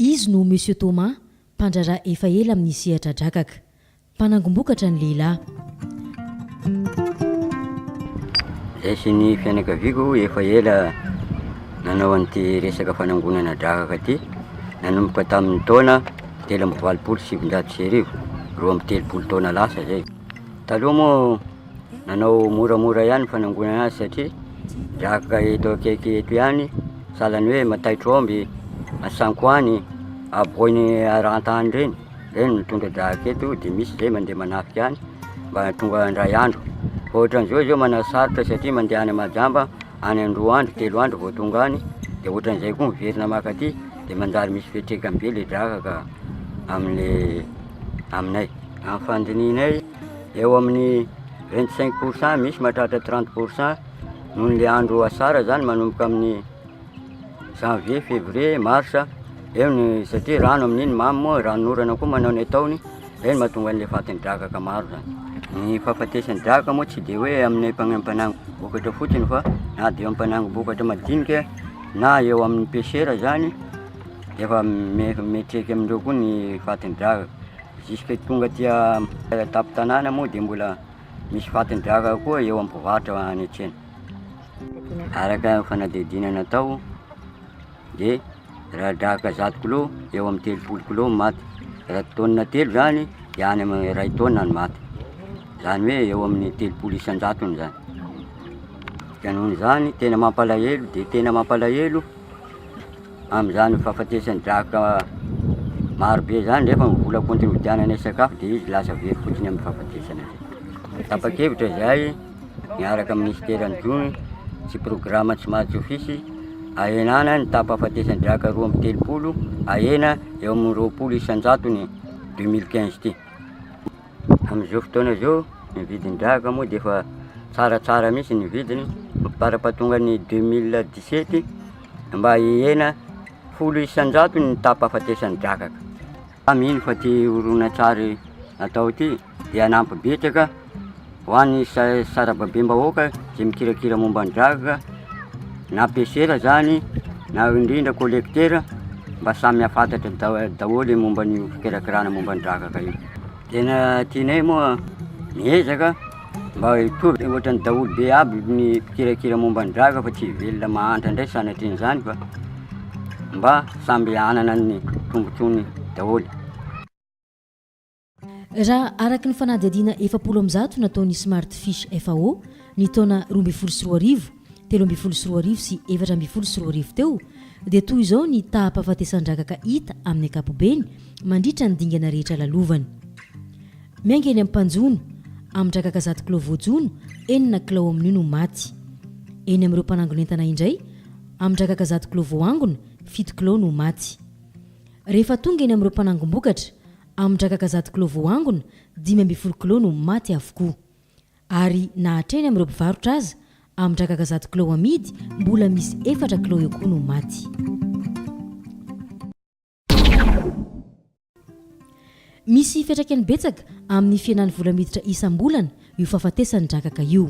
Izy no Monsieur Thomas, mpandraharaha efa ela amin'ny sehatra drakaka. Mpanangom-bokatra ny lehilahy. Izahay sy ny fianakaviako efa ela nanao an'ity resaka fanangonana drakaka ity, nanomboka tamin'ny taona. telo amby valopolo sy sivinjato sy arivo, roa amby telopolo taona lasa zay. Taloha moa nanao moramora ihany ny fanangonana azy satria drakaka eto akaiky eto ihany, sahalan'ny hoe Mataitromby, Asankoany, Aboiny Arantany ireny, ireny mitondra drakaka eto dia misy izay mandeha manafika any mba tonga indray andro. Fa ohatran'izao izao manao sarotra satria mandeha any Majamba any an-droa andro, telo andro vao tonga any, dia ohatran'izay koa miverina maka aty. Dia manjary misy fiantraikany be ilay drakaka amin'ilay aminay. Amin'ny fandinihinay, eo amin'ny 25 pour cent, misy mahatratra 30 pour cent, noho ilay andro asara izany manomboka amin'ny janvier, février, mars, eo ny satria rano amin'iny mamy moa, ranon'orana koa manao ny ataony. Izay no mahatonga an'ilay fatin'ny drakaka maro izany. Ny fahafatesan'ny drakaka moa tsy dia hoe amin'ny mpanangom-bokatra fotsiny fa na dia eo mpanangom-bokatra madinika na eo amin'ny pêcheur izany dia efa miantraika amin'ireo koa ny fatin'ny drakaka. Jusque tonga aty an-tampon-tanàna moa dia mbola misy fatin'ny drakaka koa eo amin'ny mpivarotra any an-tsena. Araka ny fanadihadiana natao dia radaaka zato kilô eo amin'ny telopolo kilô ny maty, raha taonina telo zany de any amin'ny iray taona ny maty, zany hoe eo amin'ny telopolo isan-jatony zany, de noho izany tena mampalahelo de tena mampalahelo am'zany fahafatesan'ny draka maro be zany nefa ny vola kontribution-nay sakafo de izy lasa very fotsiny amin'ny fahafatesana zay, tapa-kevitra zay. miaraka amin'ny minisiteran'ny Jono sy programa tsy mahatsofisy ahenana ny taham-pahafatesan-draka roa amby telopolo ahena eo amin'ny roapolo isan-jatony 2015 ity. Amin'izao fotoana izao ny vidin-draka moa dia efa tsaratsara mihitsy ny vidiny mampitarapatongan'ny 2017 mba hihena folo isan-jatony ny taham-pahafatesan-drakaka. Mino fa ity horonantsary atao ity dia hanampy betsaka ho an'ny sarababem-bahoaka izay mikirakira momba ny dragg na PCR izany na indrindra collecteur mba samy hafantatra da- daholo ny momba ny fikirakirana momba ny dragg io. Tena tianay moa miezaka mba hitovy ohatran'ny daholobe aby ny mpikirakira momba ny dragg fa tsy velona mahantra indray sanatrian'izany fa mba samby hanana ny tombontsoany daholo. Raha araka ny fanadihadiana efapolo amby zato nataon'ny Smart Fish FAO ny taona roa ambin'ny folo sy roa arivo, telo ambin'ny folo sy roa arivo sy efatra ambin'ny folo sy roa arivo teo dia toy izao ny taham-pahafatesan-drakaka hita amin'ny ankapobeny mandritra ny dingana rehetra lalovany. Miainga eny amin'ny mpanjono, amin-drakaka zato kilao voajono, enina kilao amin'io no maty. Eny amin'ireo mpanangon'entana indray, amin-drakaka zato kilao voaangona, fito kilao no maty. Rehefa tonga eny amin'ireo mpanangom-bokatra, Amin-drakaka zato kilao voaangona, dimy ambin'ny folo kilao no maty avokoa. Ary na hatreny amin'ireo mpivarotra aza, amin-drakaka zato kilao amidy, mbola misy efatra kilao eo koa no maty. Misy fiantraikany betsaka amin'ny fihenan'ny vola miditra isam-bolana io fahafatesan-drakaka io.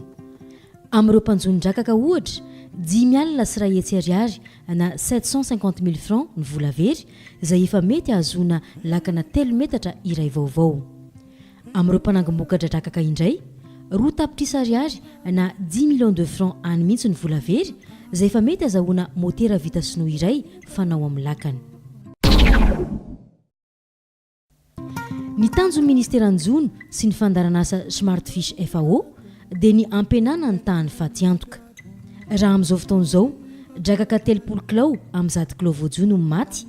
Amin'ireo mpanjonon-drakaka, ohatra, dimy alina sy iray hetsy ariary na sept cent cinquante mille francs ny vola very, izay efa mety hahazoana lakana telo metatra iray vaovao. Amin'ireo mpanangom-boka-dradrakaka indray, roa tapitrisa ariary na dix millions de francs any mihitsy ny vola very, izay efa mety hazahoana motera vita sinoa iray fanao amin'ny lakana. Ny tanjon'ny ministeran'ny Jono sy ny fandaharanasa Smart Fish FAO dia ny hampihenana ny tahan'ny fatiantoka. Raha amin'izao fotoana izao, drakaka telopolo kilao amin'ny zato kilao voajono no maty,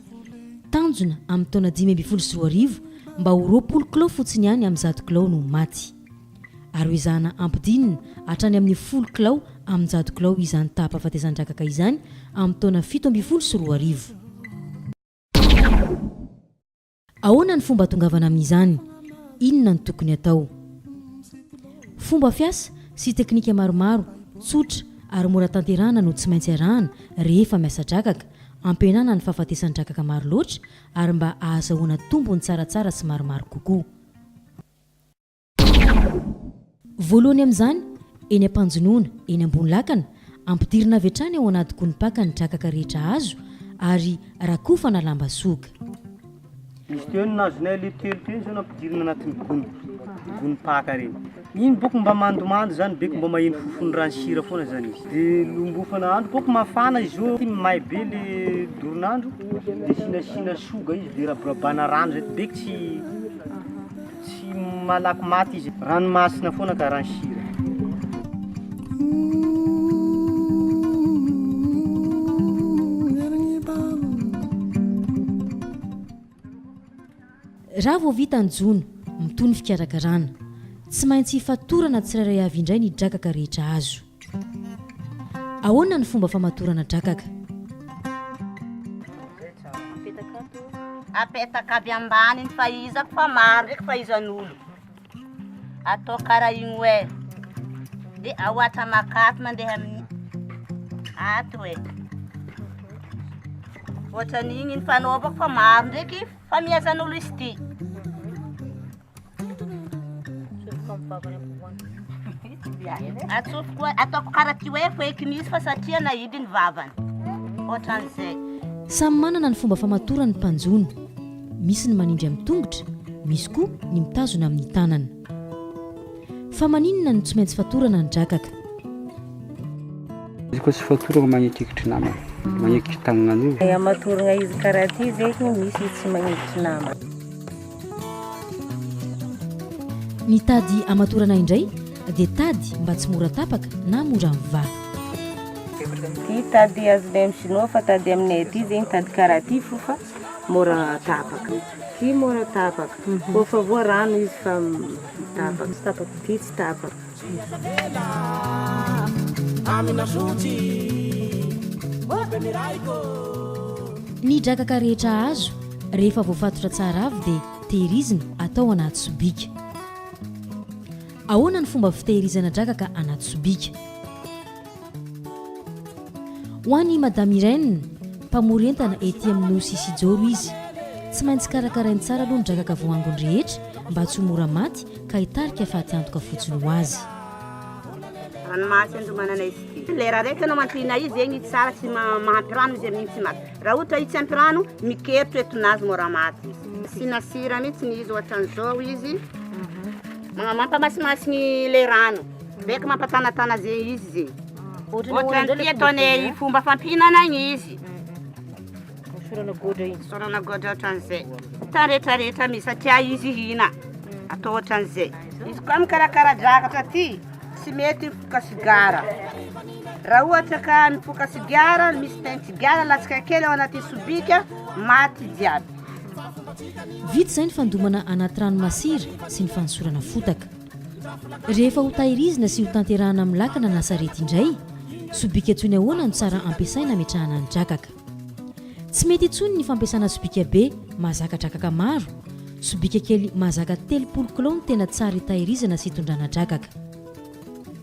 tanjona amin'ny taona dimy ambin'ny folo sy roa arivo mba ho roapolo kilao fotsiny ihany amin'ny zato kilao no maty. Ary hoezahana hampidinina hatrany amin'ny folo kilao amin-jato kilao izany taham-pahafatesan-drakaka izany amin'ny taona fito ambin'ny folo sy roa arivo. Ahoana ny fomba atongavana amin'izany? Inona no tokony atao? Fomba fiasa sy teknika maromaro tsotra ary mora tanterahana no tsy maintsy arahana rehefa miasa drakaka, ampihenana ny fahafatesan-drakaka maro loatra ary mba ahazahoana tombony tsaratsara sy maromaro kokoa. Voalohany amin'izany, eny am-panjonoana, eny ambony lakana, ampidirina avy hatrany ao anaty gony paka ny drakaka rehetra azo ary rakofana lamba soga. Misy teo ny nahazoanay aleo telo teo izao nampidirina anatin'ny gony, gony paka ireny. Iny boko mba mandomando izany be, mba maheno fofony raha ny sira foana izany izy. Dia lombofana andro, boko mafana izao, iny may be ilay doron'andro dia asiana asiana soga izy dia raborabana rano izay, be tsy. Tsy malaky maty izy e. Ranomasina foana karaha ny sira. Raha vao vita ny jono, mitohy ny fikarakarana. Tsy maintsy fatorana tsirairay avy indray ny drakaka rehetra azo. Ahoana ny fomba famatorana drakaka? Apetaka aby ambaniny fa iza ko fa maro ndreky fa iza nolo atao kara igny oe de aoatra makaty mandeha aminy ato oe ohatranigny ny fanaovako fa maro ndreky fa miezanolo izy ty Samy manana ny fomba famatorany ny mpanjono. Misy ny manindry amin'ny tongotra, misy koa ny mitazona amin'ny tanana. Fa maninona no tsy maintsy fatorana ny drakaka? Izy koa tsy fatorana magnetikitry namana, magnetikitry tagnan'olona. Hamatoragna izy karaha ty ve misy tsy magnetikitry namana? Ny tady hamatorana indray dia tady mba tsy mora tapaka na mora mivaha. Ty tady azonay amin'ny sinoa fa tady aminay aty zegny tady karaha ty fo fa mora tapaka. Ty mora tapaka, kôfa voarano izy fa tapaka. Ty tsy tapaka. Ny drakaka rehetra azo rehefa voafatotra tsara avy dia tehirizina atao anaty sobika. Ahoana ny fomba fitehirizana drakaka anaty sobika? Ho an'i Madame Irène, mpamory entana ety amin'ny Nosy Isijoro izy. Tsy maintsy karakarainy tsara aloha ny drakaka voaangony rehetra mba tsy ho mora maty ka hitarika faty antoka fotsiny ho azy. Ranomasy andomanana izy ity. Ilay raha raika no ampiana izy egny tsara tsy mahampy rano izy amin'igny tsy maty. Raha ohatra izy tsy ampy rano, mikeritro etonazy mora maty izy. Asiana sira mihitsy izy ohatran'izao izy. Mampamasimasy ny ilay rano. Beko mampatanatana ze izy ze. Ohatran'ny tia atao ny fomba fampihinana ny izy. Sorana goadra iny. Sorana goadra ohatran'izay. Tany rehetra rehetra misy satria izy hihina. Hmm. Atao ohatran'izay. Izy koa mikarakara drakatra ty tsy mety mifoka sigara. Raha ohatra ka mifoka sigara, misy teny sigara latsaka kely ao anaty sobika, maty jiaby. Vita izay ny fandomana anaty rano masira sy ny fanosorana fotaka. Rehefa hotairizina sy hotanterahana amin'ny lakana na sarety indray, sobika tsony ahoana no tsara ampiasaina hametrahana ny drakaka? Tsy mety intsony ny fampiasana sobika be mahazaka drakaka maro, sobika kely mahazaka telopolo kilao no tena tsara hitahirizana sy hitondrana drakaka.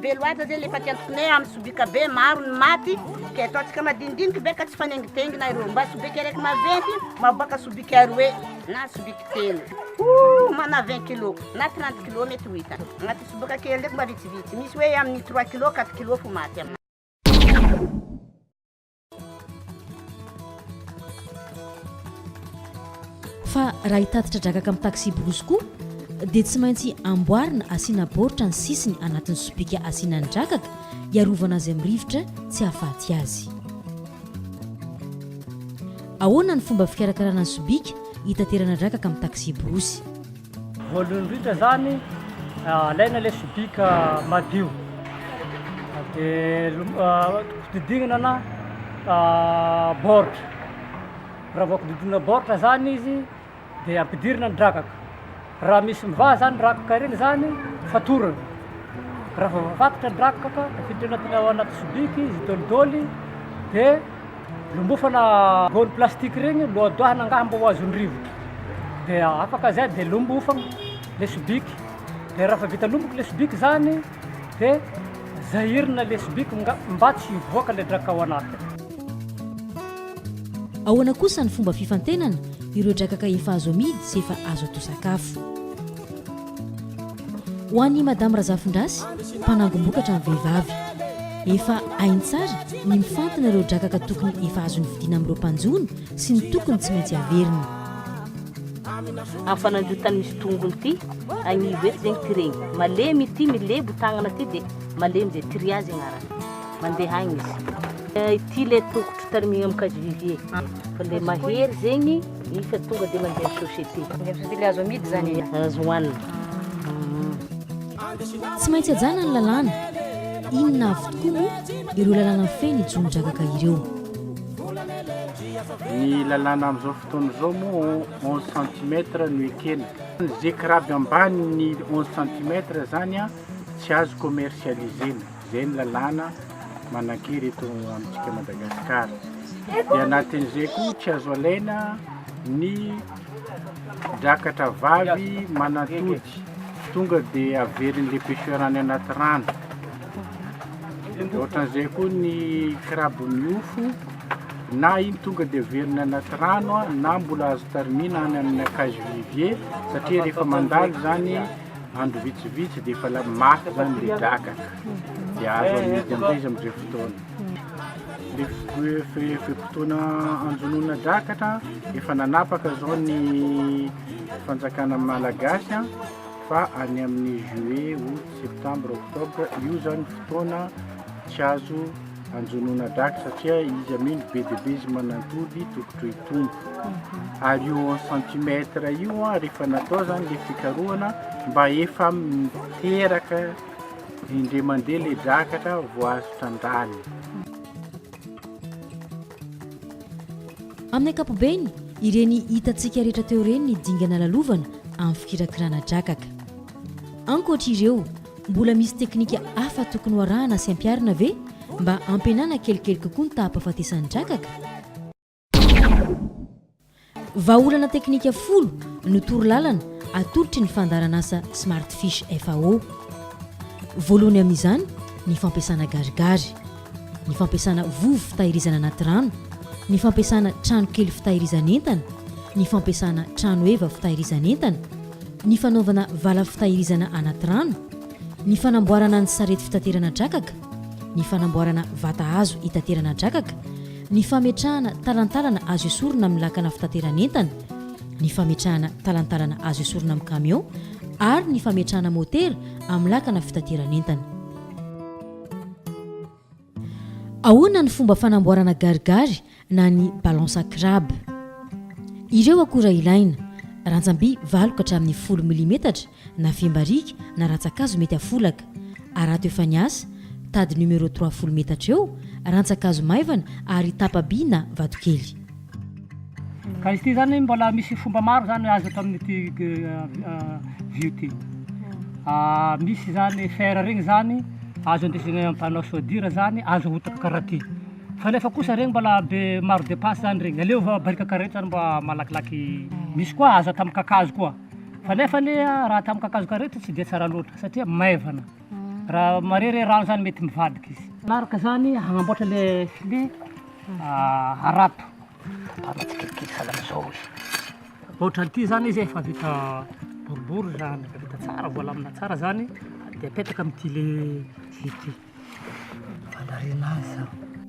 Be loatra zay le fa tiantokonay amin'ny sobika be maro ny maty ka ataontsika madinidinika be ka tsy fanengimpengina ireo mba sobika araiky maventy maboaka sobika aroe na sobika telo oh mana 20 kilo na 30 kilo mety ho hita agnaty sobaka kely ndraiky mba vitsivitsy misy hoe amin'ny 3 kilo 4 kilo fo maty amina Fa raha hitatitra drakaka amin'ny taxi-brousse koa dia tsy maintsy amboarina asiana baoritra ny sisiny anatin'ny sobika asiana ny drakaka hiarovana azy amin'ny rivotra tsy hahafaty azy. Ahoana ny fomba fikarakarana ny sobika hitaterana drakaka amin'ny taxi-brousse? Voalohany indrindra zany alaina ilay sobika madio dia didignana na baoritra, raha vao didignana baoritra zany izy dia ampidirina ny drakaka, raha misy mivaha zany rakaka ireny zany fatorana, raha vao voafatotro ny drakaka tafiditra ao anaty sobika izy dolidoly dia. Lombofana gony plastique ireny lohadoahana angaha mba ho azon'ny rivotra dia afaka zay dia lombofagna le sobiky dia raha fa vita lomboky le sobiky zany dia zahirina le sobiky nga- mba tsy hivoaka le draka ao anatiny. Ahoana kosa ny fomba fifantenana ireo drakaka efa azo amidy sy efa azo atao sakafo? Ho an'i Madame Razafindrasy, mpanangom-bokatra ny vehivavy. Efa hainy tsara ny mifantina ireo drakaka tokony efa azo novidiana amin'ireo mpanjono sy ny tokony tsy maintsy averiny. Amin'ny fanandrotany misy tongony ity agnivo eto zegny ty regny malemy ity milebo tagnana ty de malemy de triage agnarany mandeha agny izy. Ity le tokotro tarimigna amin'ny casivivier fa le mahery zegny. Rehefa tonga dia mandeha amin'ny société. Mandeha amin'ny société le azo amidy zany e. Azo hohanina. Tsy maintsy ajana ny lalàna. Inona avy tokoa moa ireo lalàna mifehy ny jonon-drakaka ireo? Ny lalàna amin'izao fotoana izao moa 11 centimètre no ekena. Ze kiraby ambany ny 11 centimètre zany a, tsy azo commercialiser-na. Izay ny lalàna manan-kery eto amintsika Madagasikara. Dia anatin'izay koa tsy azo alaina ny drakatra vavy manatody. Tonga dia averin'ilay pêcheur any anaty rano. Ohatran'izay koa ny crabe miofo na iny tonga dia averina anaty rano na mbola azo tarimina any amin'ny cage vivier satria rehefa mandalo izany Andro vitsivitsy dia efa la- maty izany ilay drakaka, dia azo amidy amin'izay izy amin'izay fotoana. Ilay f- hoe fe- fe-potoana anjonoana drakaka, efa nanapaka izao ny fanjakana malagasy an, fa any amin'ny juillet, aout, septembre, octobre, io izany fotoana tsy azo Anjonoana drag satria izy anie no be dia be izy manantody tokotro itombo. Ary io en centimètre io an, rehefa natao zany le fikarohana mba efa miteraka indray mandeha le drakatra vao azo trandrahana. Amin'ny ankapobeny, ireny hitantsika rehetra teo ireny ny dingana lalovana amin'ny fikirakirana drakaka. Ankoatra ireo, Mbola misy teknika hafa tokony ho arahana sy ampiharina ve mba hampihenana kelikely kokoa ny taham-pahafatesan'ny drakaka? Vahaolana teknika folo no torolalana atolotry ny fandaharanasa Smartfish FAO. Voalohany amin'izany ny fampiasana garigary. ny fampiasana vovo fitahirizana anaty rano, ny fampiasana tranokely fitahirizan'entana, ny fampiasana tranoheva fitahirizan'entana, ny fanaovana vala fitahirizana anaty rano, ny fanamboarana ny sarety fitaterana drakaka, ny fanamboarana vata hazo hitaterana drakaka, ny fametrahana talantalana azo esorina amin'ny lakana fitateran'entana, ny fametrahana talantalana azo esorina amin'ny kamiao ary ny fametrahana motera amin'ny lakana fitateran'entana. Ahoana ny fomba fanamboarana garigary na ny balansa crabe? Ireo akora ilaina, rantsam-by valo ka hatramin'ny folo milimetatra na fiam-barika na rantsan-kazo mety afolaka, arato efa niasa, tady numéro trois folo metatra eo, rantsan-kazo maivana ary tapa-by na vatokely. Ka izy ity zany mbola misy fomba maro zany azo atao amin'ity vy ity. Misy zany fer regny zany azo andesigna ampanao soudure zany, azo ahotaka karaha ty. Fa nefa kosa regny mbola be maro depense zany regny. Aleo va barika karaha ito zany mba malakilaky. Misy koa azo atao amin'ny kakazo koa. Fa nefa anie raha atao amin'ny kakazo karaha ito tsy dia tsara loatra satria maivana. Raha marere rano zany mety mivadika izy. Araka zany hagnamboatra le filet harato. Tapahana tsikelikely sahala amizao izy. Ohatrany ty zany izy efa vita boribory zany, efa vita tsara, voalamina tsara zany de apetaka amty le vy ty. Fandarinana azy zany.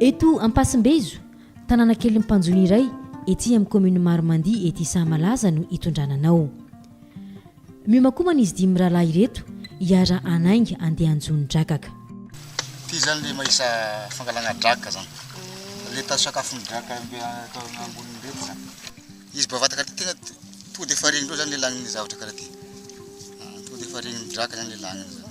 Eto Ampasimbezo, tanàna kelin'ny mpanjono iray ety amin'ny kaominina Maromandia ety Sahamalaza no itondrana anao. Miomakomana izy dimy mirahalahy ireto hiara hanainga handeha hanjono drakaka. Ity izany ilay mahisa fangalana drakaka izany. Ilay tazo sakafon'ny drakaka be atao amboniny ireto izany. Izy bevata karaha ity tena tonga dia efa regnin-dreo izany ilay lanin'ny zavatra karaha ity. Tonga dia efa regnin'ny drakaka izany ilay laniny izany.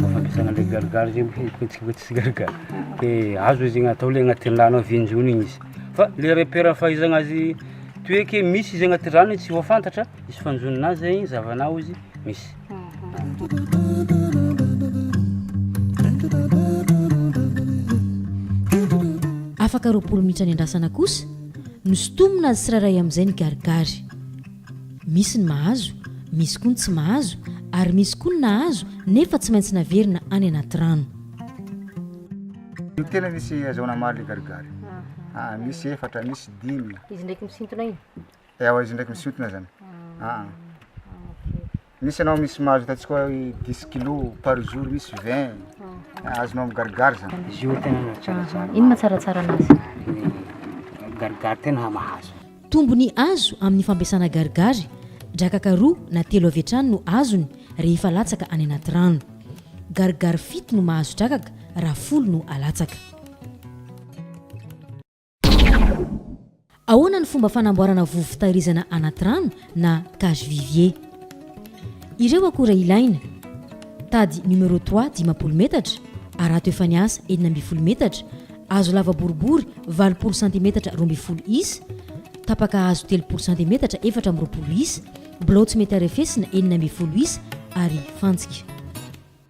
Fampandrosoana an'ilay gargara zegny hoe hetsika tsy gargara de azo izy igny atao le agnaty rano avy injony igny izy fa le repère fahaizagna azy toeky misy izy agnaty rano igny tsy voafantatra izy fanjonoana azy zegny zahavana ao izy misy Afaka roapolo minitra niandrasana kosa no sintomina azy tsirairay amin'izay ny garigary. Misy ny mahazo, misy koa ny tsy mahazo ary misy koa ny nahazo nefa tsy maintsy naverina any anaty rano. Tena misy azahoana maro le garigary. Aa ah, misy efatra, misy dimy. Izy ndraiky misintona iny? Ewa, izy ndraiky misintona zany. Aa. Ah, ah. Misy anao misy mahazo ataontsika hoe dix kilos par jour, misy vingt, ah, azonao migarigary zany. Izy io tena no tsaratsara. Ino matsaratsara anazy? Ny garigary tena mahazo. Tombony azo amin'ny fampiasana garigary, drakaka roa na telo avy hatrany no azony rehefa latsaka any anaty rano. Garigary fito no mahazo drakaka raha folo no alatsaka. Ahoana ny fomba fanamboarana vovo fitahirizana anaty rano na cage vivier. Ireo akora ilaina, tady numéro trois dimampolo metatra, harato efa niasa enina ambin'ny folo metatra, hazo lava boribory valopolo santimetatra roa ambin'ny folo isa, tapaka hazo telopolo santimetatra efatra amby roapolo isa, bilao tsy mety harefesina enina ambin'ny folo isa ary fantsika.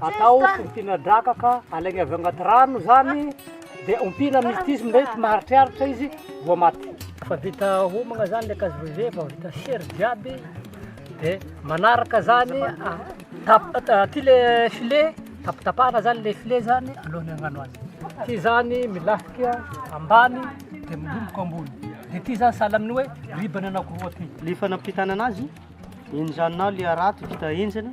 Atao ompiana draka ka alaigna avy agnaty rano zany dia ompiana mistisy mety maharitraritra izy vao maty. Efa vita homagna zany le cassoulet, efa vita sery jiaby dia manaraka zany aty le filet tapatapahana zany le filet zany alohan'ny hagnano azy, ty zany milafika ambany dia milomboka ambony dia ty zany sahala amin'ny hoe ribany anankiroa ty. Ny fanampitana anazy, enjanao le harato vita henjana.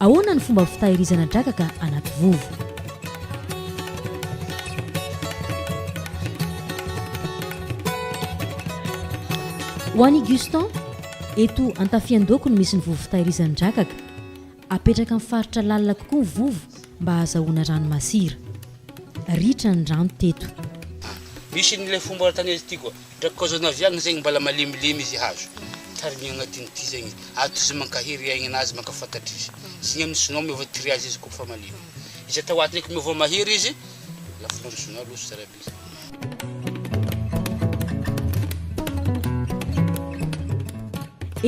Ahoana ny fomba fitahirizana drakaka anaty vovo? Ho an'i Gustan, eto Antafian-doako no misy ny vovo fitahirizan-drakaka. Apetraka amin'ny faritra lalina kokoa ny vovo mba hahazahoana rano masira. Ritra ny rano teto. Misy an'ilay fomba tany aty koa. Dra kôzôna avy agny zegny mbala malemilemy izy hazo tarigny agnatiny ty zegny ato izy mankahery aigny anazy mankafantatry izy zegny aminy sinoa miova tri azy izy kôfa malemy izy atao ato ndraiky miova mahery izy lafonandro sinoa loso tsara be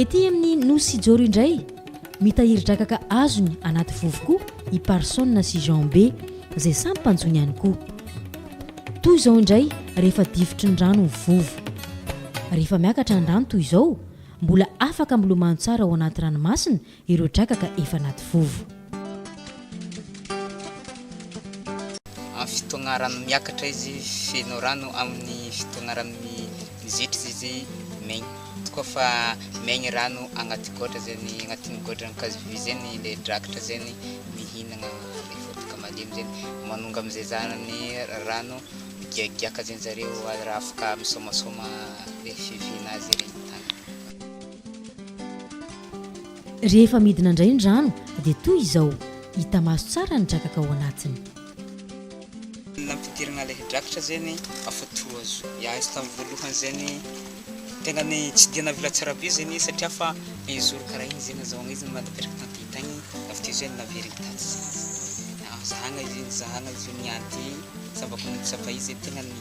ety aminy nosy joro indray mitahiry drakaka azony anaty vovo koa i parsona sy jean be zay samy mpanjony ihany koa Toy izao indray rehefa difotry ny rano ny vovo. Rehefa miakatra ny rano toy izao, mbola afaka milomano tsara ao anaty ranomasina ireo drakaka efa anaty vovo. Amin'ny fotoagna rano miakatra izy feno rano, amin'ny fotoagna rano mizetra izy maigny. Tokoa fa maigny rano agnaty gôdra zegny, agnatin'ny gôdran'ny kazovy zegny ilay drakaka zegny mihinagna. Ny vovoka malemy zegny manonga amzay zany ny rano migiagiaka zegny zareo raha afaka misomasoma le fivihina azy ery ny tany. Rehefa midina ndray ny rano dia toy izao, hita maso tsara ny drakaka ao anatiny. Ny nampidirana ilay drakitra zegny afa toazo ya izy tam voalohany zegny tegna ny tsy dia navela tsara be zegny izy satria fa un jour karaha igny zegny nazahoagna izy mba napetraka tam pays tagny avy teo zay naveriny taty zegny izy, zahagna izy io nizahagna izy io niady sambako nitsapa izy tegna ny.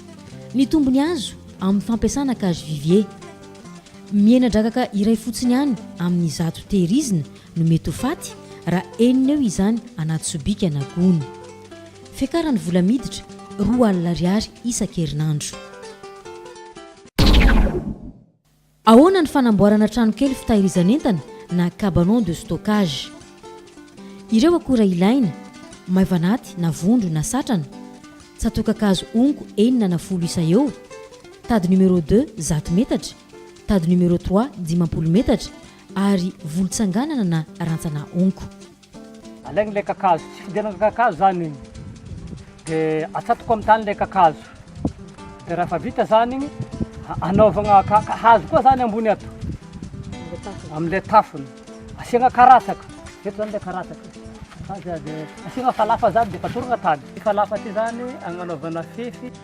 Ny tombony azo amin'ny fampiasana cage vivier. Mihena drakaka iray fotsiny ihany amin'ny zato tehirizina no mety ho faty raha enina eo izany anaty sobika na gony. Fiakaran'ny vola miditra, roa alina ariary isan-kerinandro. Ahoana ny fanamboarana tranokely fitahirizan'entana na cabanon de stockage? Ireo akora ilaina, maivanaty na vondro na satrana, tsatoka-kazo onko enina na folo isa eo, tady numéro deux zato metatra, tady numéro trois dimampolo metatra ary volon-tsanganana na rantsana onko. Alaigny ilay kakazo, tsy fidiran'ny kakazo zany igny, de atsatoka amin'ny tany ilay kakazo, de raha efa vita zany igny, anaovagna ka-ka hazo koa zany ambony ato, am'le tafony, asiagna karatsaka, eto zany le karatsaka, de asiagna falafa zany de efa atorogna tany, falafa ty zany agnanaovana fefy.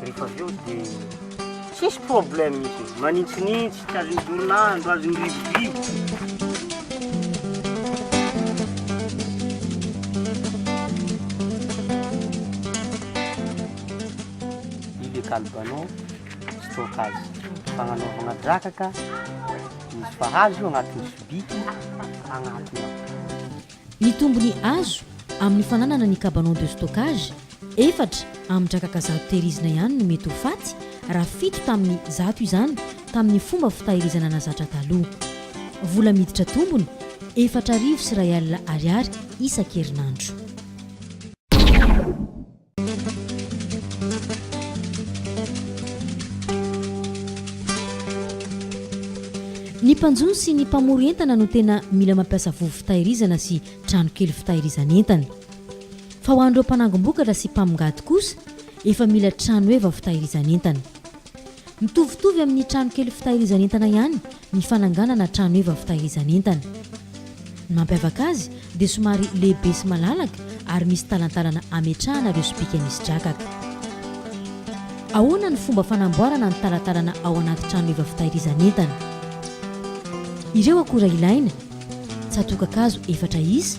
Rehefa avy eo dia tsisy problème izy, manintsinintsy, tsy azon'ny dorinandro, azon'ny rivodoka. Io dia kalbanao stockage, fagnanaovagna drakaka, misy fahazo io agnatin'ny sobika, agnatin'ny ao. Ny tombony azo amin'ny fananana ny cabanon de stockage efatra amin'ny drakaka zato tehirizina ihany no mety ho faty raha fito tamin'ny zato izany tamin'ny fomba fitahirizana nazatra taloha. Vola miditra tombony, efatra arivo sy iray alina ariary isan-kerinandro. Ny mpanjono sy ny mpamory entana no tena mila mampiasa vovo fitahirizana sy trano kely fitahirizan'entana. Fa ho an'ireo mpanangom-bokatra sy mpamongady kosa, efa mila tranoheva fitahirizan'entana. Mitovitovy amin'ny trano kely fitahirizan'entana ihany ny fananganana trano eva fitahirizan'entana. Ny mampiavaka azy dia somary lehibe sy malalaka ary misy talantalana ametrahana ireo sobika misy drakaka. Ahoana ny fomba fanamboarana ny talantalana ao anaty trano eva fitahirizan'entana? Ireo akora ilaina, Tsatokakazo efatra isa,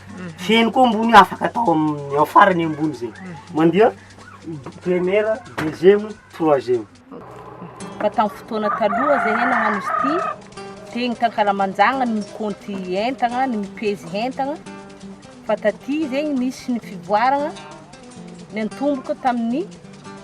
Feno koa ambony afaka atao amin'ny ao farany ambony zay. Mandeha première, deuxième, troisième. Fa tamin'ny fotoana taloha zay hena nagnano izy ity dia ny tankalamanjagna no mikaonty entagna, no mipezy entagna. Fa taty zegny nisy ny fivoaragna niantomboka tamin'ny.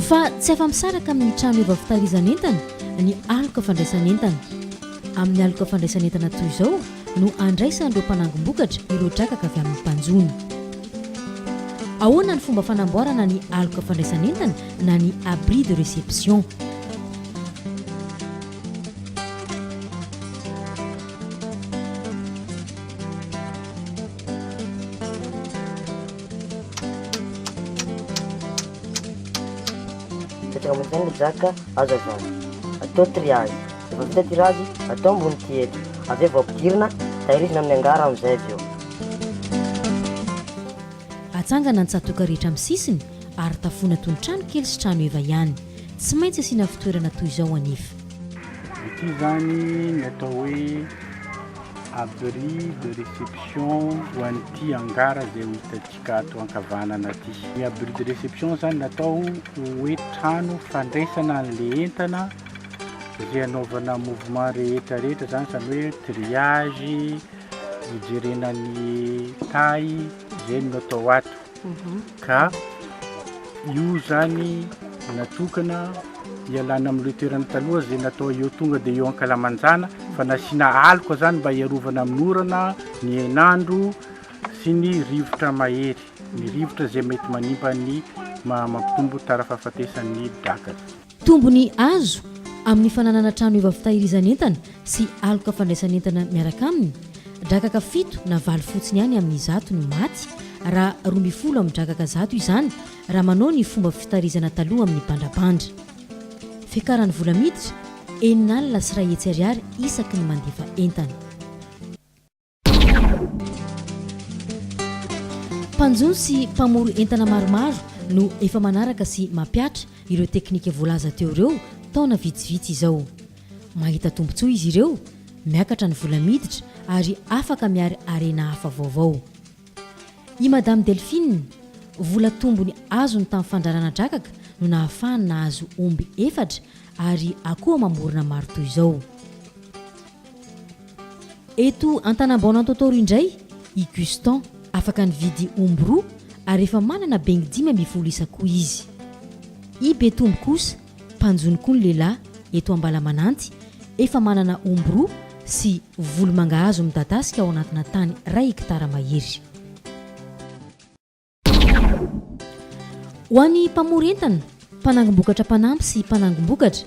Fa tsy afa-misaraka amin'ny trano efa fitahirizan'entana ny aloka fandraisan'entana. Amin'ny aloka fandraisan'entana toy izao no andraisan'ireo mpanangom-bokatra ireo drakaka avy amin'ny mpanjono. Ahoana ny fomba fanamboarana ny aloka fandraisan'entana na ny abri de réception? Mipetraka ambony tany ny jaka, azo avy any. Atao triage. Rehefa vita tirage, atao ambony tiety. Avy eo vao ampidirina, tahirizina amin'ny angara amin'izay avy eo. Atsangana ny tsatoka rehetra amin'ny sisiny ary tafoina toy ny trano kely sy trano heva ihany. Tsy maintsy asiana fitoerana toy izao anefa. Ity izany ny atao hoe abri de réception ho an'ity angara izay ho hitantsika ato ankavanana ity. Ny abri de réception izany natao ho hoe trano fandraisana an'ilay entana izay anaovana mouvement rehetra rehetra izany izany hoe triage, hijerena ny taille izay no atao ato. ka io zany natokana hialana amin'ireo toerana taloha izay natao eo tonga dia eo ankalamanjana fa nasiana aloka zany mba hiarovana amin'ny orana ny henandro sy ny rivotra mahery ny rivotra izay mety manimba ny mampitombo tara fahafatesan'ny draka Tombony azo amin'ny fananana trano eva fitahirizan'entana sy aloka fandraisan'entana miaraka aminy, drakaka fito na valo fotsiny ihany amin'ny zato no maty raha roa ambin'ny folo amin'ny drakaka zato izany raha manao ny fomba fitarizana taloha amin'ny bandrabandra. Fiakaran'ny vola miditra, enina alina sy iray hetsy ariary isaky ny mandefa entana. Mpanjono sy mpamory entana maromaro no efa manaraka sy mampiatra ireo teknika voalaza teo ireo taona vitsivitsy izao. Mahita tombontsoa izy ireo, miakatra ny vola miditra ary afaka miary harena hafa vaovao. I Madame Delphine, vola tombony azony tamin'ny fandrarana drakaka no nahafahany nahazo omby efatra ary akoho amam-borona maro toy izao. Eto Antanambao-Anantotoro indray i Gustan, afaka nividy omby roa ary efa manana bengy dimy ambin'ny folo isa koa izy. I Betombo kosa, mpanjono koa ny lehilahy, eto Ambalamananty, efa manana omby roa sy volo mangahazo midadasika ao anatina tany iray hekitara mahery. Ho an'ny mpamory entana, mpanangom-bokatra mpanampy sy mpanangom-bokatra,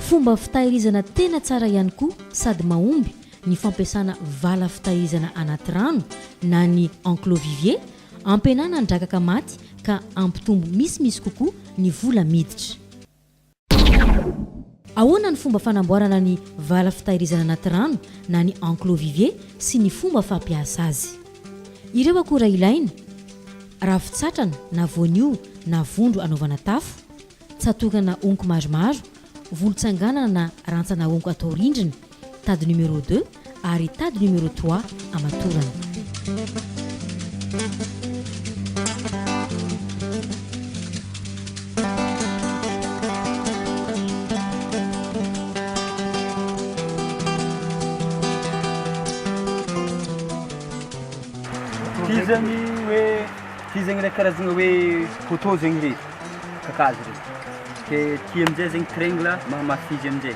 fomba fitahirizana tena tsara ihany koa sady mahomby ny fampiasana vala fitahirizana anaty rano na ny enclos vivier ampihenana ny drakaka maty ka hampitombo misimisy kokoa ny vola miditra. Ahoana ny fomba fanamboarana ny vala fitahirizana anaty rano na ny enclos vivier sy ny fomba fampiasa azy. Ireo akora ilaina, Ravin-tsatrana na voanio na vondro anaovana tafo, tsatokana honko maromaro, volon-tsanganana na rantsana honko atao rindrina, tady numéro deux ary tady numéro trois amatorana. Fizany hoe fizany ilay karazana hoe poteau zegny izy, kakazo regny. Dia aty amin'izay zegny triangle mahamafy izy amin'izay.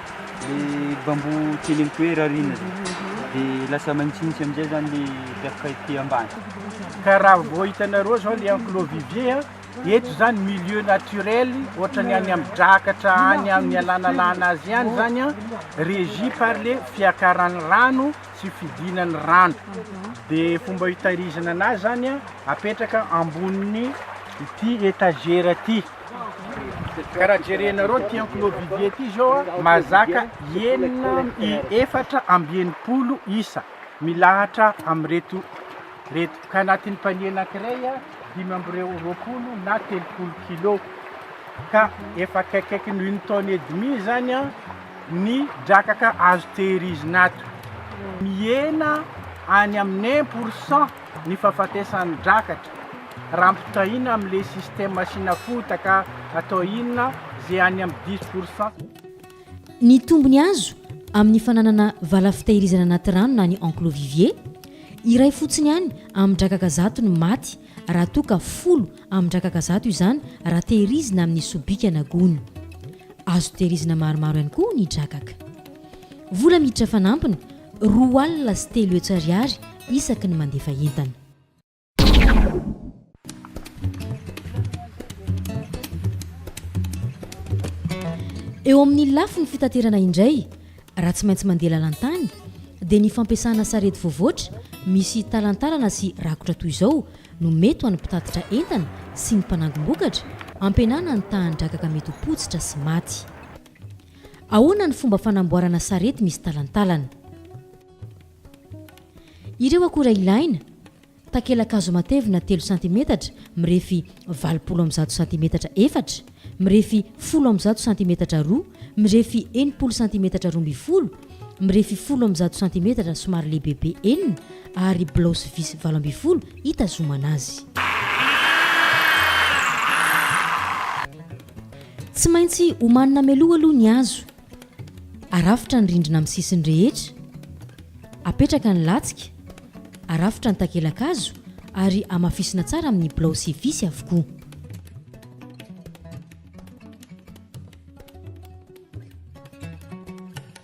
Ilay bambou tsy eny amin'ny toerana ary iny dia lasa manitsinitsy amin'izay izany ilay tafika ety ambany. Ka raha vao hitanareo izao ilay enclos vivier, eto izany milieu naturel, ohatra ny any amin'ny drakatra, any amin'ny alanalana azy ihany izany, régi par ilay fiakaran'ny rano sy fidinan'ny rano. Dia fomba hitahirizana anazy izany, apetraka ambonin'ny ity étagère ity. Ka raha jerenareo ity enclos vide ity zao a, mahazaka enina efatra amby enimpolo isa milahatra amin'ireto reto, ka anatin'ny panier anankiray a, dimy amby reo- roapolo na telopolo kilo, ka efa akaikikaikin'ny une tonne et demie zany a ny drakaka azo tehirizina ato, mihena any amin'ny un pour cent. ny fahafatesan'ny drakatra raha ampitahaina amin'ilay système asiana fotaka atao inona izay any amin'ny dix pour cent. Ny tombony azo amin'ny fananana vala fitahirizana anaty rano na ny enclos vivier, iray fotsiny ihany amin-drakaka zato no maty raha toa ka folo amin-drakaka zato izany raha tehirizina amin'ny sobika na gony. Azo tehirizina maromaro ihany koa ny drakaka. Vola miditra fanampiny. Roa alina sy telo hetsy ariary isaky ny mandefa entana. Eo amin'ny lafiny fitaterana indray, raha tsy maintsy mandeha lalan-tany, dia ny fampiasana sarety voavoatra misy talantalana sy rakotra toy izao no mety ho an'ny mpitatitra entana sy ny mpanangom-bokatra, ampihenana ny tahan-drakaka mety ho potsitra sy maty. Ahoana ny fomba fanamboarana sarety misy talantalana? Ireo akora ilaina, Takelakazo matevina telo santimetatra mirefy valopolo amby zato santimetatra efatra, mirefy folo amby zato santimetatra roa, mirefy enimpolo santimetatra roa ambin'ny folo, mirefy folo amby zato santimetatra somary lehibebe enina ary bilao sy visy valo ambin'ny folo hitazomana azy. Tsy maintsy omanina mialoha aloha ny hazo. Arafitra ny rindrina amin'ny sisiny rehetra. Apetraka ny latsika, arafitra ny takela-kazo ary amafisina tsara amin'ny bilao sy visy avokoa.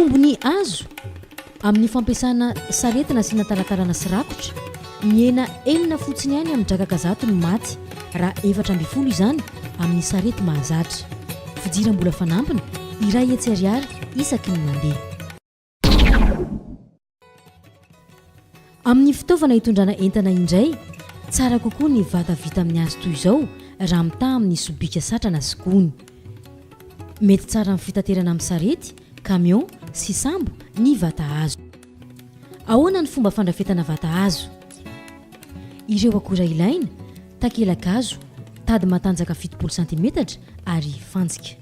Tombony azo amin'ny fampiasana sarety nasiana talantalana sy rakotra, mihena enina fotsiny ihany amin'ny drakaka zato ny maty raha efatra ambin'ny folo izany amin'ny sarety mahazatra. Fidiram-bola fanampiny iray hetsy ariary isaky ny mandeha. Amin'ny fitaovana hitondrana entana indray, tsara kokoa ny vata vita amin'ny hazo toy izao raha mitaha amin'ny sobika satrana sy gony. Mety tsara amin'ny fitaterana amin'ny sarety, camion sy sambo ny vata hazo. Ahoana ny fomba fandrafetana vata hazo? Ireo akora ilaina, takelakazo, tady matanjaka fitopolo santimetatra ary fantsika.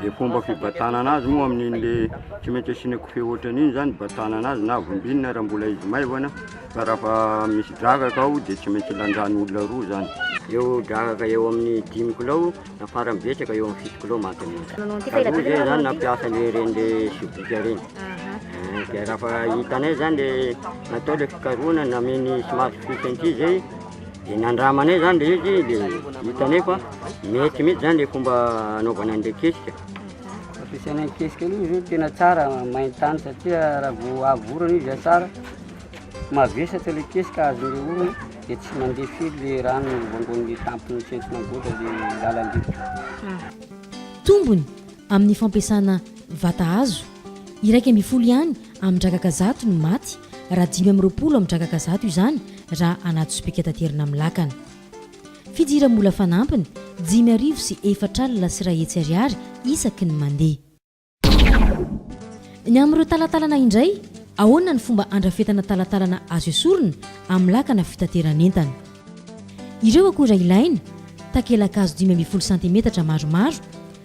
Dia fomba fibatanana azy moa amin'inle tsy maintsy asiana kofehy ohatran'iny zany hibatanana azy na vombinina raha mbola izy maivana fa raha fa misy dragaka ao dia tsy maintsy lanjany olona roa zany. Eo dragaka eo amin'ny dimy kilao na farany betsaka eo amin'ny fito kilao maty amin'iny. Taloha zay zany nampiasa an'ireny reny sobika ireny. Dia raha fa hitanay zany le natao le fikarohana, nameny somary fohy kely zay. Dia nandramanay izany ilay izy dia hitanay fa mety mihitsy izany ilay fomba anaovana an'ilay kesika. Fampiasana ny kesika aloha izy tena tsara main-tany satria raha vao avy orana izy tsara mavesatra ilay kesika azon'ilay orana dia tsy mandeha firy ilay rano voangoan'ny tampon'ny centina goatra ilay lalan-drivotra. Tombony amin'ny fampiasana vata hazo. Iraika ambin'ny folo ihany amin-drakaka zato no maty, raha dimy amby roapolo amin-drakaka zato izany raha anaty sobika taterina amin'ny lakana. Fidira-mola fanampiny, dimy arivo sy efatra alina sy iray hetsy ariary isaky ny mandeha. Ny amin'ireo talantalana indray, ahoana ny fomba andrafetana talantalana azo esorina amin'ny lakana fitateran'entana. Ireo akora ilaina, Takela-kazo dimy ambin'ny folo santimetatra maromaro,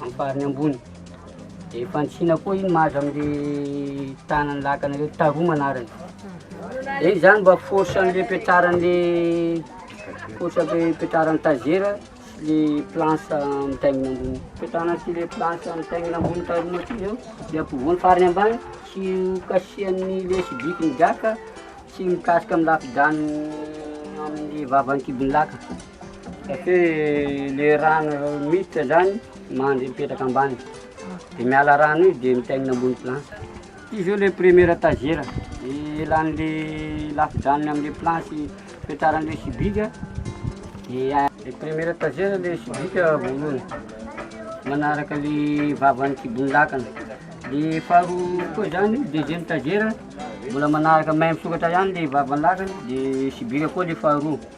Amin'ny farany ambony. Dia fanisiana koa iny mahazo amin'ilay tanan'ny lakana ireo, taromana arany. Dia izany mba force an'ilay fipetraran'ilay force fipetraran'ny tazera sy ilay planche mitaingina ambony. Fipetrana sy ilay planche mitaingina ambony taromana ity izao dia ampovoany farany ambany sy kasihan'ny ilay sibiky ny gaka sy mikasika amin'ny lafidaniny amin'ny vavan'ny kibon'ny lakana. Satria le rano miditra zany mandry mipetraka ambany de miala rano io de mitaingina ambony planche. Ty zao le première étagère elan'le lafin-dranony amle planche ipetraran'le subika dia le première étagère le subika voalohany manaraka le vavan'ny kibon'ny lakana de faharoa koa zany deuxième étagère mbola manaraka même sokatra ihany le vavan'ny lakana de subika koa le faharoa.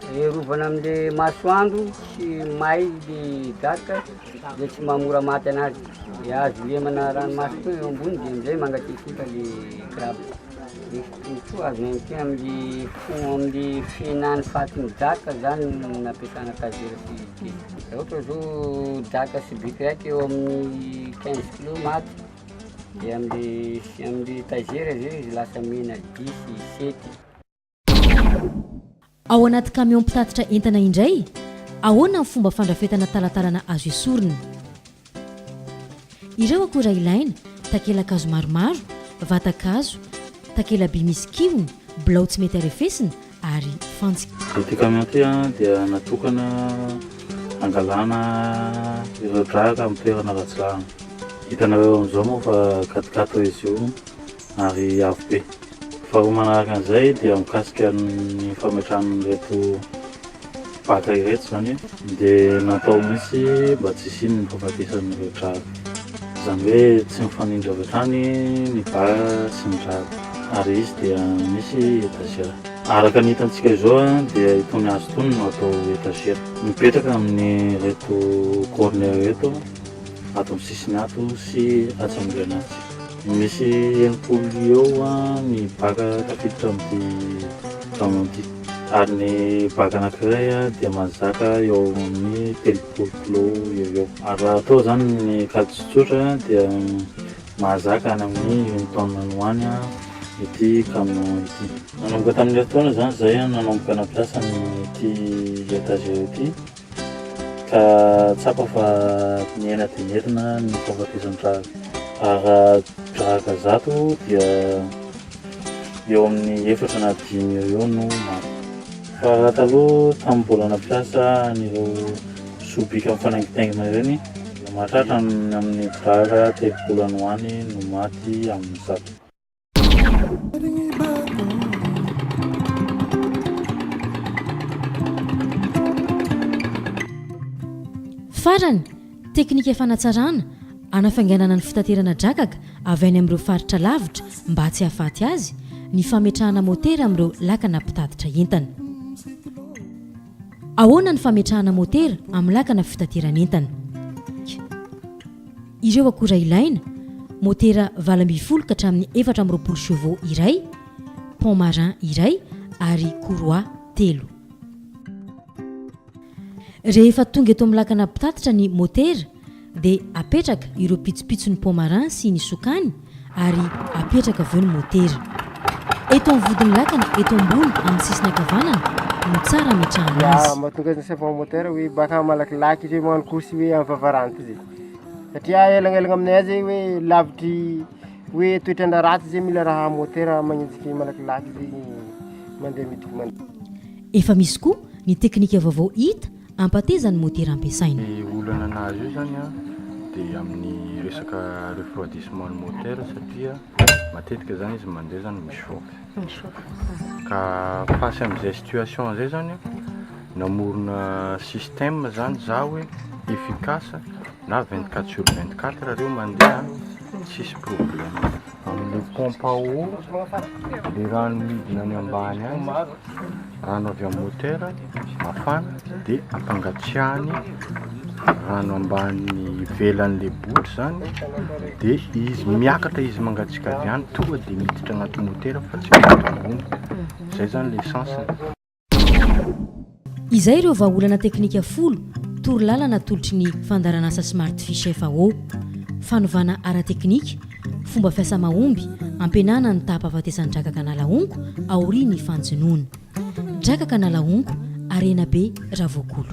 Hiarovana amin'le masoandro sy may le gaka le tsy maha mora maty anazy de azo lemana ranomaso koa eo ambony de amizay mangatsiatsiaka le crabe de koa azo maintsy amle fo- amle fihinany fatin'ny gaka zany no nampiasana tazera sy kily raha ohatra zao gaka sobika raiky eo amin'ny quinze kilo maty de amle amle tazera zay izy lasa mena dix sy sept Ao anaty kamiao mpitatitra entana indray, ahoana ny fomba fandrafetana talantalana azo esorina? Ireo akora ilaina, takelakazo maromaro, vatan-kazo, takela-by misy kihony, bilao tsy mety arefesina ary fantsika. Ity kamiao ity dia natokana hangalana ireo draka amin'ny toerana ratsy lalana. Hitanareo amin'izao moa fa gatogatoa izy io Ary avo be. Faharoa manaraka an'izay dia mikasika ny fametrahana an'ireto mpaka ireto izany dia natao mihitsy mba tsy hisian'ny fahafatesan'ireo drago. Izany hoe tsy mifanindry avy hatrany ny bara sy ny drago. Ary izy dia misy etazera. Araka ny hitantsika izao dia itony hazo itony no atao etazera. Mipetraka amin'ireto corner ireto ato amin'ny sisiny ato sy atsy amin'ny grenade. Misy enimpolo eo ny baka tafiditra amin'ity taona ity, ary ny baka anankiray dia mahazaka eo amin'ny telopolo kilao eo ho eo. Ary raha atao izany ny kajy tsotsotra dia mahazaka any amin'ny une tonne any ho any ity camion ity. Nanomboka tamin'ny herintaona izany izahay nanomboka nampiasa an'ity étagère ity. Ka tsapa fa miaina dia merina ny fahafatezan-draza. Ara-drahaka zato dia eo amin'ny efatra na dimy eo eo no maty. Fa raha taloha tamin'ny mbola nampiasa an'ireo sobika mifanaingitaingina ireny dia mahatratra ny amin'ny vara telopolo any ho any no maty amin'ny zato. Farany, teknika fanatsarana, hanafainganana ny fitaterana drakaka avy any amin'ireo faritra lavitra mba tsy hahafaty azy, ny fametrahana motera amin'ireo lakana mpitatitra entana. Ahoana ny fametrahana motera amin'ny lakana fitateran'entana? K. Ireo akora ilaina, motera valo ambin'ny folo ka hatramin'ny efatra amby roapolo chevaux iray, pont marin iray ary courroie telo. Rehefa tonga eto amin'ny lakana mpitatitra ny motera, Dia apetraka ireo pitsopitson'ny pomarin sy ny sokany ary apetraka avy eo ny motera. Eto amin'ny vodin'ny lakana eto ambony amin'ny sisiny ankavanana no tsara ametrahana azy. Dia mahatonga ny serpent moteur hoe baka malakilaky izy hoe magnano course hoe amin'ny vavaranty zay. Satria elagnelagna aminay any zay hoe lavitry hoe toetr'andro ratsy zay mila raha motera magnenjiky malakilaky zay mandeha midiky mandeha. Efa misy koa ny teknika vaovao hita hampateza ny motera ampiasaina. Ny olana nahazo io izany an, dia amin'ny resaka refroidissement ny motera satria matetika izany izy mandeha izany mi chauffe. Mi chauffe. Ka face amin'izay situation izay izany an, namorona système izany za hoe efficace Na vingt quatre sur vingt quatre reo mandeha tsisy problème. Amin'ilay pompe à eau, le rano midina any ambany any, rano avy amin'ny moteur, mafana, dia ampangatsiahany rano ambany ivelan'ilay bouche zany, dia izy miakatra izy mangatsiaka avy any, tonga dia miditra agnaty moteur fa tsy miditra ambony. Zay zany le sens-ny. Izay ireo vahaolana teknika folo torolalana atolotry ny fandaharanasa Smart Fiche FAO, fanovana ara-teknika, fomba fiasa mahomby, ampihenana ny taha-pahafatesan'ny drakaka na lahongo aorian'ny fanjonoana. Drakaka na lahongo, Harenabe Ravoakolo.